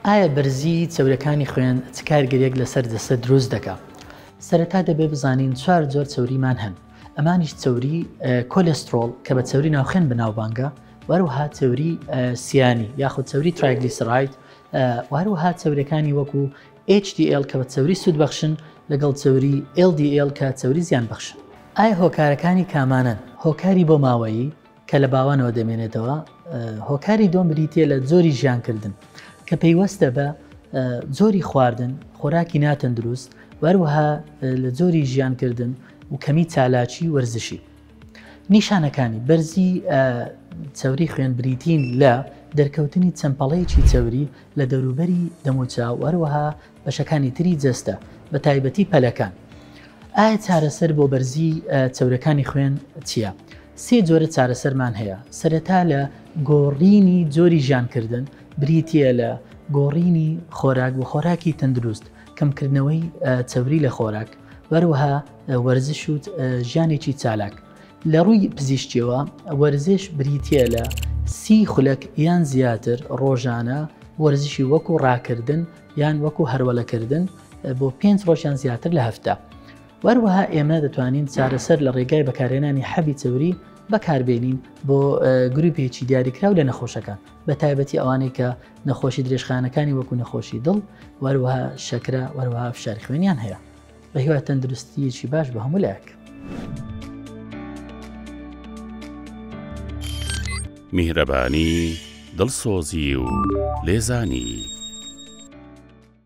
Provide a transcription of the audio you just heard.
ئایا بەرزی چەوریەکانی خوێن چ کارگەریەک لەسەر جەستە دروست دەکا؟ سەرەتا دەبێ بزانین چوار جۆر چەوریمان هەن ئەمانیش چەوری کۆلێسترۆڵ کە بە چەوری ناوخێن بەناوبانگە وەروها چەوری سیانی یاخود چەوری ترایگلیسرایت وهروها چەورەکانی وەکو HDL کە بە چەوری سوود بەخشن لەگەڵ چەوری LDL کە چەوری زیان بەخشن ئایا هۆکارەکانی کامانەن هۆکاری بۆ ماوەیی کە لە باوانەوە دەمێنێتەوە، هۆکاری دووەم بریتیە لە جۆری ژیانکردن کە پەیوەستە بە جۆری خواردن خۆراکی ناتەندروست وەروەها لە جۆری ژیانکردن و کەمی چالاکی وەرزشی نیشانەکانی بەرزی چەوری خوێن بریتین لە دەرکەوتنی چەمپەڵەیەکی چەوری لە دەوروبەری دەموچاو وەروەها بەشەکانی تری جەستە بە تایبەتی پەلەکان. ئایا چارەسەر بۆ بەرزی چەورەکانی خوێن چیە؟ سێ جۆرە چارەسەرمان هەیە سەرەتا لە گۆڕینی جۆری ژیانکردن بریتیە لە گۆڕینی خۆراک بۆ خۆراکی تەندروست، کەمکردنەوەی چەوری لە خۆراک، وەروەها وەرزش و ژیانێکی چالاک. لە ڕووی پزیشکیەوە وەرزش بریتیە لە سی خولەک یان زیاتر ڕۆژانە وەرزشی وەکو ڕاکردن، یان وەکو هەرولەکردن بۆ پێنج ڕۆژ یان زیاتر لە هەفتە. وەروەها ئێمە دەتوانین چارەسەر لە ڕێگای بەکارهێنانی حەبی چەوری بەکاربێنین بۆ گروپێکی دیاریکراو لە نەخۆشەکان بە تایبەتی ئەوانەی کە نەخۆشی درێژخانەکانی وەکو نەخۆشی دڵ وەروەها شەکرە وەروەها فشار خوێنیان هەیە. بە هیوای تەندروستیەکی باش بە هەموو لایەک. میهرەبانی دڵسۆزی و لێزانی.